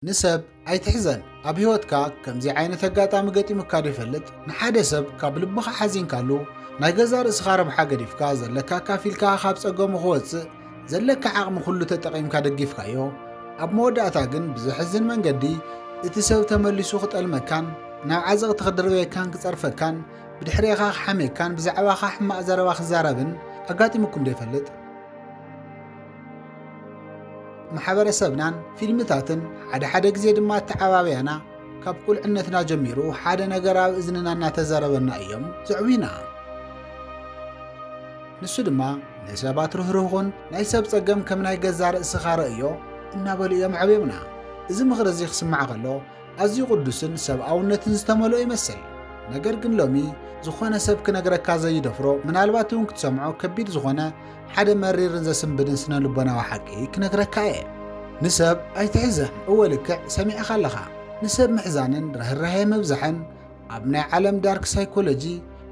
ንሰብ ኣይትሕዘን ኣብ ህይወትካ ከምዚ ዓይነት ኣጋጣሚ ገጢሙካ ዶ ይፈልጥ ንሓደ ሰብ ካብ ልብኻ ሓዚንካሉ ናይ ገዛ ርእስኻ ረብሓ ገዲፍካ ዘለካ ኣካፊልካ ካብ ጸገሙ ክወጽእ ዘለካ ዓቕሚ ኩሉ ተጠቒምካ ደጊፍካዮ ኣብ መወዳእታ ግን ብዘሕዝን መንገዲ እቲ ሰብ ተመሊሱ ክጠልመካን ናብ ዓዘቕቲ ክድርበየካን ክጸርፈካን ብድሕሬኻ ክሓሜካን ብዛዕባኻ ሕማቕ ዘረባ ክዛረብን ኣጋጢሙኩም ዶ ይፈልጥ ማሕበረሰብናን ፊልምታትን ሓደ ሓደ ግዜ ድማ ኣተዓባብያና ካብ ቁልዕነትና ጀሚሩ ሓደ ነገር ኣብ እዝንና እናተዘረበና እዮም ዘዕብዩና ንሱ ድማ ንሰባት ርህርህኹን ናይ ሰብ ጸገም ከም ናይ ገዛ ርእስኻ ረእዮ እናበሉ እዮም ዓብዮምና እዚ ምኽሪ እዚ ክስማዕ ከሎ ኣዝዩ ቅዱስን ሰብኣውነትን ዝተመልኦ ይመስል። ነገር ግን ሎሚ ዝኾነ ሰብ ክነግረካ ዘይደፍሮ ምናልባት እውን ክትሰምዖ ከቢድ ዝኾነ ሓደ መሪርን ዘስንብድን ስነ ልቦናዊ ሓቂ ክነግረካ እየ። ንሰብ ኣይትሕዘን። እወ ልክዕ ሰሚዕኻ ኣለኻ። ንሰብ ምሕዛንን ርህራሄ ምብዛሕን ኣብ ናይ ዓለም ዳርክ ሳይኮሎጂ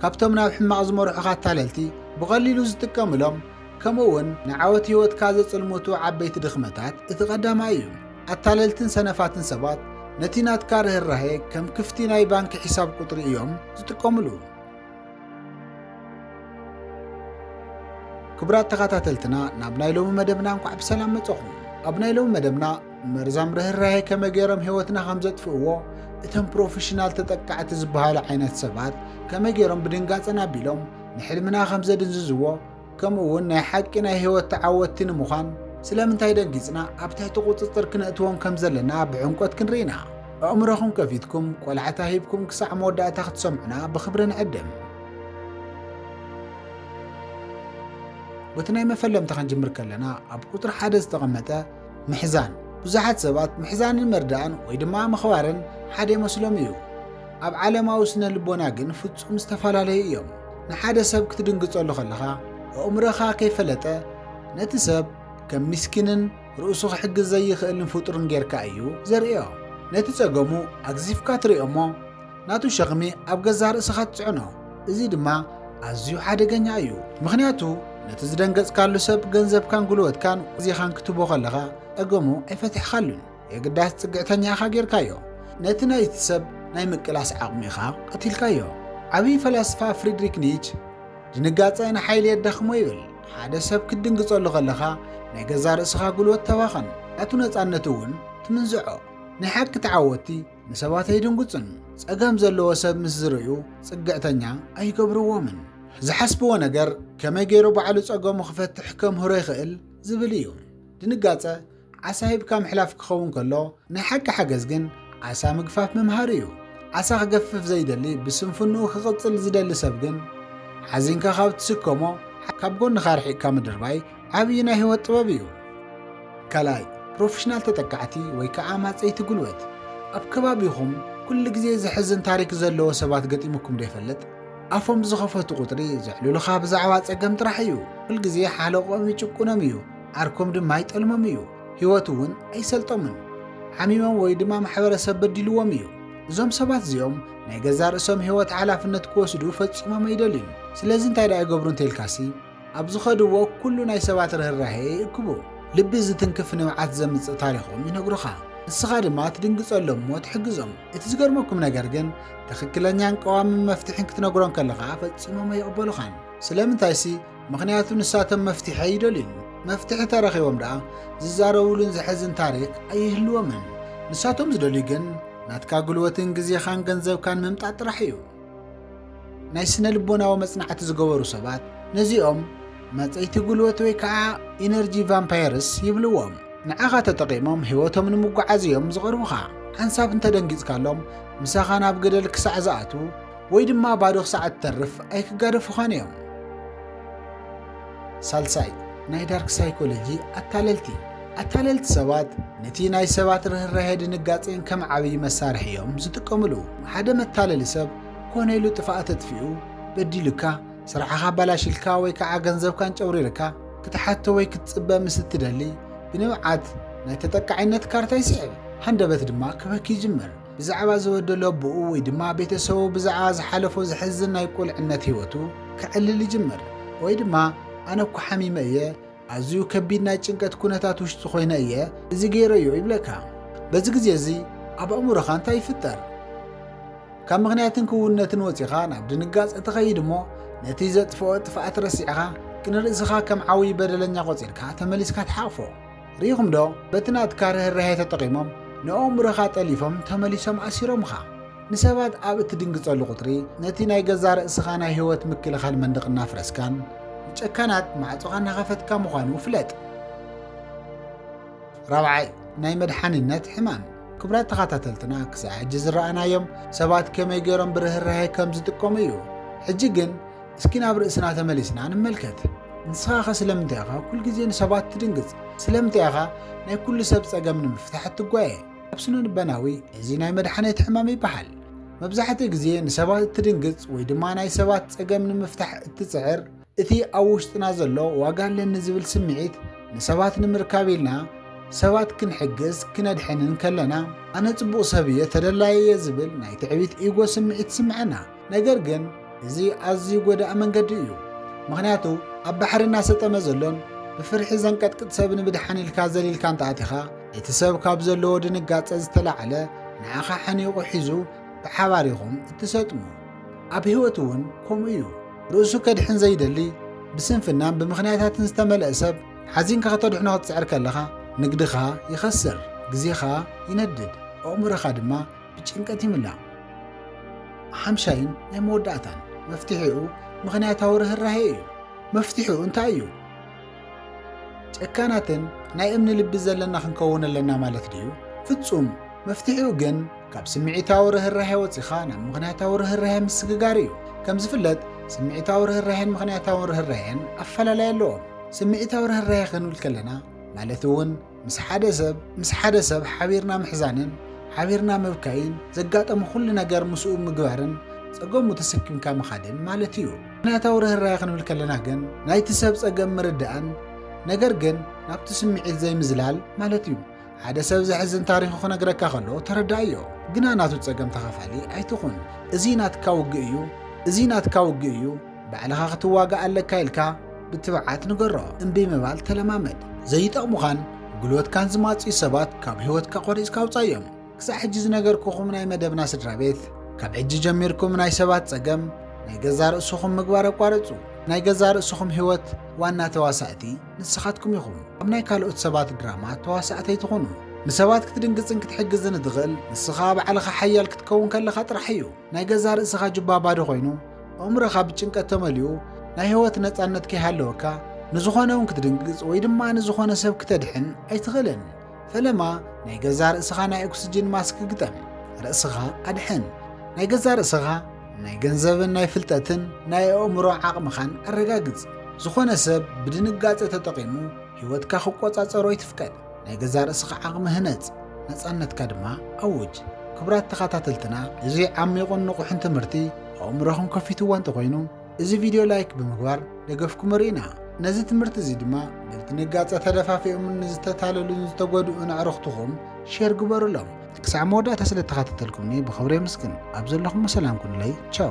ካብቶም ናብ ሕማቕ ዝመርሑኻ ኣታለልቲ ብቐሊሉ ዝጥቀምሎም ከምኡ እውን ንዓወት ህይወትካ ዘጽልሙቱ ዓበይቲ ድኽመታት እቲ ቀዳማይ እዩ። ኣታለልትን ሰነፋትን ሰባት ነቲ ናትካ ርህራሄ ከም ክፍቲ ናይ ባንኪ ሒሳብ ቁጽሪ እዮም ዝጥቀምሉ። ክቡራት ተኸታተልትና ናብ ናይ ሎሚ መደብና እንኳዕ ብሰላም መጸኹም። ኣብ ናይ ሎሚ መደብና መርዛም ርህራሄ ከመይ ገይሮም ህይወትና ከም ዘጥፍእዎ እቶም ፕሮፌሽናል ተጠቃዕቲ ዝበሃሉ ዓይነት ሰባት ከመይ ገይሮም ብድንጋጸን ኣቢሎም ንሕልምና ከም ዘድንዝዝዎ ከምኡውን ናይ ሓቂ ናይ ህይወት ተዓወትቲ ንምዃን ስለምንታይ ደንጊጽና ኣብ ትሕቲ ቁጽጽር ክነእትዎም ከም ዘለና ብዕምቆት ክንርኢ ኢና። ኣእምሮኹም ከፊትኩም ቆላሕታ ሂብኩም ክሳዕ መወዳእታ ክትሰምዑና ብኽብሪ ንዕድም። በቲ ናይ መፈለምታ ክንጅምር ከለና ኣብ ቁጽሪ ሓደ ዝተቐመጠ ምሕዛን ብዙሓት ሰባት ምሕዛንን መርዳእን ወይ ድማ ምኽባርን ሓደ ይመስሎም እዩ። ኣብ ዓለማዊ ስነ ልቦና ግን ፍጹም ዝተፈላለዩ እዮም። ንሓደ ሰብ ክትድንግጸሉ ከለኻ ኣእምሮኻ ከይፈለጠ ነቲ ሰብ ከም ምስኪንን ርእሱ ክሕግዝ ዘይኽእልን ፍጡርን ጌርካ እዩ ዘርእዮ። ነቲ ጸገሙ ኣግዚፍካ ትርእዮ እሞ ናቱ ሸኽሚ ኣብ ገዛእ ርእስኻ ትጽዕኖ፣ እዚ ድማ ኣዝዩ ሓደገኛ እዩ። ምኽንያቱ ነቲ ዝደንገጽካሉ ሰብ ገንዘብካን ጉልበትካን ግዜኻን ክትህቦ ከለኻ ጸገሙ ኣይፈትሕካሉን፣ የግዳስ ጽግዕተኛ ኢኻ ጌርካዮ። ነቲ ናይቲ ሰብ ናይ ምቅላስ ዓቕሚ ኢኻ ቀቲልካዮ። ዓብዪ ፈላስፋ ፍሪድሪክ ኒች ድንጋጸ ንሓይሊ የዳኽሞ ይብል። ሓደ ሰብ ክትድንግጸሉ ከለኻ ናይ ገዛእ ርእስኻ ጉልበት ተባኽን፣ ናቱ ነጻነት እውን ትምንዝዖ። ናይ ሓቂ ተዓወትቲ ንሰባት ኣይድንጉጹን፣ ጸገም ዘለዎ ሰብ ምስ ዝርእዩ ጽግዕተኛ ኣይገብርዎምን። ዝሓስብዎ ነገር ከመይ ገይሩ ባዕሉ ጸገሙ ክፈትሕ ከምህሮ ይኽእል ዝብል እዩ። ድንጋጸ ዓሳ ሂብካ ምሕላፍ ክኸውን ከሎ ናይ ሓቂ ሓገዝ ግን ዓሳ ምግፋፍ ምምሃር እዩ። ዓሳ ክገፍፍ ዘይደሊ ብስንፍንኡ ክቕጽል ዝደሊ ሰብ ግን ሓዚንካ ካብ ትስከሞ ካብ ጎንኻ ኣርሒቕካ ምድርባይ ዓብዪ ናይ ህይወት ጥበብ እዩ። ካልኣይ፣ ፕሮፌሽናል ተጠቃዕቲ ወይ ከዓ ኣማፀይቲ ጉልበት። ኣብ ከባቢኹም ኩሉ ግዜ ዘሕዝን ታሪክ ዘለዎ ሰባት ገጢሙኩም ዶ ይፈልጥ? ኣፎም ዝኸፈቱ ቁፅሪ ዘዕልሉኻ ብዛዕባ ፀገም ጥራሕ እዩ። ኩል ግዜ ሓለቕኦም ይጭቁኖም እዩ፣ ዓርኮም ድማ ይጠልሞም እዩ፣ ህይወት እውን ኣይሰልጦምን። ሓሚሞም ወይ ድማ ማሕበረሰብ በዲልዎም እዩ። እዞም ሰባት እዚኦም ናይ ገዛ ርእሶም ህይወት ሓላፍነት ክወስዱ ፈፂሞም ኣይደልዩን። ስለዚ እንታይ ደኣ ይገብሩ እንተይልካሲ፣ ኣብ ዝኸድዎ ኩሉ ናይ ሰባት ርህራሄ ይእክቡ። ልቢ ዝትንክፍ ንብዓት ዘምጽእ ታሪኾም ይነግሩኻ። ንስኻ ድማ ትድንግጸሎም እሞ ትሕግዞም። እቲ ዝገርመኩም ነገር ግን ትኽክለኛን ቀዋምን መፍትሒን ክትነግሮም ከለኻ ፈጺሞም ኣይቕበሉኻን። ስለምንታይሲ ምኽንያቱ ንሳቶም መፍትሒ ኣይደልዩን። መፍትሒ ተረኺቦም ደኣ ዝዛረቡሉን ዘሕዝን ታሪክ ኣይህልዎምን። ንሳቶም ዝደልዩ ግን ናትካ ጉልበትን ግዜኻን ገንዘብካን ምምጣጥ ጥራሕ እዩ። ናይ ስነ ልቦናዊ መጽናዕቲ ዝገበሩ ሰባት ነዚኦም መጸይቲ ጉልበት ወይ ከዓ ኢነርጂ ቫምፓየርስ ይብልዎም ንዓኻ ተጠቒሞም ህይወቶም ንምጓዓዝ እዮም ዝቐርቡኻ ሓንሳብ እንተደንጊጽካሎም ምሳኻ ናብ ገደል ክሳዕ ዝኣትዉ ወይ ድማ ባዶ ክሳዕ እትተርፍ ኣይክጋደፉኻን እዮም ሳልሳይ፣ ናይ ዳርክ ሳይኮሎጂ ኣታለልቲ። ኣታለልቲ ሰባት ነቲ ናይ ሰባት ርህራሄ ድንጋጼን ከም ዓብዪ መሳርሒ እዮም ዝጥቀምሉ። ሓደ መታለሊ ሰብ ኮነ ኢሉ ጥፍኣት ኣጥፊኡ፣ በዲሉካ፣ ስርሕኻ ኣባላሺልካ ወይ ከዓ ገንዘብካ ኣንጨብሪርካ ክትሓቶ ወይ ክትጽበ ምስ እትደሊ ብንብዓት ናይ ተጠቃዒነት ካርታ ይስዕብ፣ ሃንደበት ድማ ክበኪ ይጅምር። ብዛዕባ ዝበደሎ ኣቦኡ ወይ ድማ ቤተሰቡ ብዛዕባ ዝሓለፎ ዘሕዝን ናይ ቁልዕነት ህይወቱ ከዕልል ይጅምር። ወይ ድማ ኣነ እኮ ሓሚመ እየ፣ ኣዝዩ ከቢድ ናይ ጭንቀት ኩነታት ውሽጢ ኮይነ እየ እዚ ገይረዮ ይብለካ። በዚ ግዜ እዚ ኣብ ኣእምሮኻ እንታይ ይፍጠር? ካብ ምኽንያትን ክውንነትን ወፂኻ ናብ ድንጋፀ ትኸይድ እሞ ነቲ ዘጥፍኦ ጥፍኣት ረሲዕኻ ግን ርእስኻ ከም ዓብዪ በደለኛ ቆፂርካ ተመሊስካ ትሓቕፎ። ርኢኹም ዶ በቲ ናትካ ርህራሄ ተጠቒሞም ንኣእምሮኻ ጠሊፎም ተመሊሶም ኣሲሮምኻ። ንሰባት ኣብ እትድንግጸሉ ቁጽሪ ነቲ ናይ ገዛእ ርእስኻ ናይ ህይወት ምክልኻል መንደቕ እናፍረስካን ንጨካናት ማዕጾኻ እናኸፈትካ ምዃኑ ፍለጥ። ራብዓይ ናይ መድሓኒነት ሕማም ክብራት ተኸታተልትና ክሳዕ ሕጂ ዝረኣናዮም ሰባት ከመይ ገይሮም ብርህራሄ ከም ዝጥቀሙ እዩ። ሕጂ ግን እስኪ ናብ ርእስና ተመሊስና ንመልከት። ንስኻኸ ስለምንታይ ኢኻ ኩል ግዜ ንሰባት ትድንግጽ? ስለምንታይ ኢኻ ናይ ኩሉ ሰብ ጸገም ንምፍታሕ እትጓየ? ኣብ ስነልበናዊ እዚ ናይ መድሓኔት ሕማም ይበሃል። መብዛሕትኡ ግዜ ንሰባት እትድንግጽ ወይ ድማ ናይ ሰባት ጸገም ንምፍታሕ እትጽዕር እቲ ኣብ ውሽጥና ዘሎ ዋጋ ኣለኒ ዝብል ስምዒት ንሰባት ንምርካብ ኢልና ሰባት ክንሕግዝ ክነድሕንን ከለና ኣነ ጽቡቕ ሰብ እየ ተደላዪ እየ ዝብል ናይ ትዕቢት ኢጎ ስምዒት ይስምዐና። ነገር ግን እዚ ኣዝዩ ጎዳኢ መንገዲ እዩ። ምኽንያቱ ኣብ ባሕሪ እናሰጠመ ዘሎን ብፍርሒ ዘንቀጥቅጥ ሰብ ንምድሓን ኢልካ ዘሊልካ እንተኣቲኻ እቲ ሰብ ካብ ዘለዎ ድንጋጸ ዝተላዕለ ንዓኻ ሓኒቑ ሒዙ ብሓባር ኢኹም እትሰጥሙ። ኣብ ህይወት እውን ከምኡ እዩ። ርእሱ ከድሕን ዘይደሊ ብስንፍናን ብምኽንያታትን ዝተመልአ ሰብ ሓዚንካ ከተድሕኖ ክትጽዕር ከለኻ ንግድኻ ይኸስር፣ ግዜኻ ይነድድ፣ ኣእምሮኻ ድማ ብጭንቀት ይምላእ። ሓምሻይን ናይ መወዳእታን መፍትሒኡ ምኽንያታዊ ርህራሄ እዩ። መፍትሒኡ እንታይ እዩ? ጨካናትን ናይ እምኒ ልቢ ዘለና ክንከውን ኣለና ማለት ድዩ? ፍጹም! መፍትሒኡ ግን ካብ ስምዒታዊ ርህራሄ ወፂኻ ናብ ምኽንያታዊ ርህራሄ ምስግጋር እዩ። ከም ዝፍለጥ ስምዒታዊ ርህራሄን ምኽንያታዊ ርህራሄን ኣፈላላይ ኣለዎም። ስምዒታዊ ርህራሄ ክንብል ከለና ማለት እውን ምስ ሓደ ሰብ ምስ ሓደ ሰብ ሓቢርና ምሕዛንን ሓቢርና ምብካይን ዘጋጠሙ ኩሉ ነገር ምስኡ ምግባርን ጸገሙ ተሰኪምካ ምኻድን ማለት እዩ። ምክንያታዊ ርህራሄ ክንብል ከለና ግን ናይቲ ሰብ ጸገም ምርዳእን ነገር ግን ናብቲ ስምዒት ዘይምዝላል ማለት እዩ። ሓደ ሰብ ዘሕዝን ታሪኹ ክነግረካ ከሎ ተረዳእዮ፣ ግና ናቱ ጸገም ተኻፋሊ ኣይትኹን። እዚ ናትካ ውግእ እዩ፣ እዚ ናትካ ውግእ እዩ፣ ባዕልኻ ክትዋጋእ ኣለካ ኢልካ ብትብዓት ንገሮ። እምቢ ምባል ተለማመድ። ዘይጠቕሙኻን ጉልበትካን ዝማጽዩ ሰባት ካብ ህይወትካ ቆሪጽካ ኣውጻዮም። ክሳዕ ሕጂ ዝነገርኩኹም ናይ መደብና ስድራ ቤት፣ ካብ ሕጂ ጀሚርኩም ናይ ሰባት ጸገም ናይ ገዛ ርእስኹም ምግባር ኣቋርጹ። ናይ ገዛ ርእስኹም ህይወት ዋና ተዋሳእቲ ንስኻትኩም ኢኹም። ኣብ ናይ ካልኦት ሰባት ድራማ ተዋሳእቲ ኣይትኹኑ። ንሰባት ክትድንግጽን ክትሕግዝን እትኽእል ንስኻ ባዕልኻ ሓያል ክትከውን ከለኻ ጥራሕ እዩ። ናይ ገዛ ርእስኻ ጁባ ባዶ ኮይኑ ኣእምሮኻ ብጭንቀት ተመሊኡ ናይ ህይወት ነፃነት ከይሃለወካ ንዝኾነ እውን ክትድንግፅ ወይ ድማ ንዝኾነ ሰብ ክተድሕን ኣይትኽእልን። ፈለማ ናይ ገዛ ርእስኻ ናይ ኦክስጅን ማስክ ግጠም፣ ርእስኻ ኣድሕን። ናይ ገዛ ርእስኻ ናይ ገንዘብን ናይ ፍልጠትን ናይ ኣእምሮ ዓቕምኻን ኣረጋግጽ። ዝኾነ ሰብ ብድንጋጸ ተጠቒሙ ህይወትካ ክቆጻጸሮ ኣይትፍቀድ። ናይ ገዛእ ርእስኻ ዓቕሚ ህነጽ፣ ነጻነትካ ድማ ኣውጅ። ክቡራት ተኸታተልትና እዚ ዓሚቝን ንቑሕን ትምህርቲ ኣእምሮኹም ከፊትዎ እንተኾይኑ እዚ ቪድዮ ላይክ ብምግባር ደገፍኩም እርኢና። ነዚ ትምህርቲ እዚ ድማ በቲ ንጋጸ ተደፋፊኦምን ንዝተታለሉን ዝተጎድኡን ኣዕርኽትኹም ሼር ግበሩሎም። ክሳዕ መወዳእታ ስለ እተኸታተልኩምኒ ብኽብሪ የምስግን። ኣብ ዘለኹሞ ሰላም ኩኑለይ። ቻው።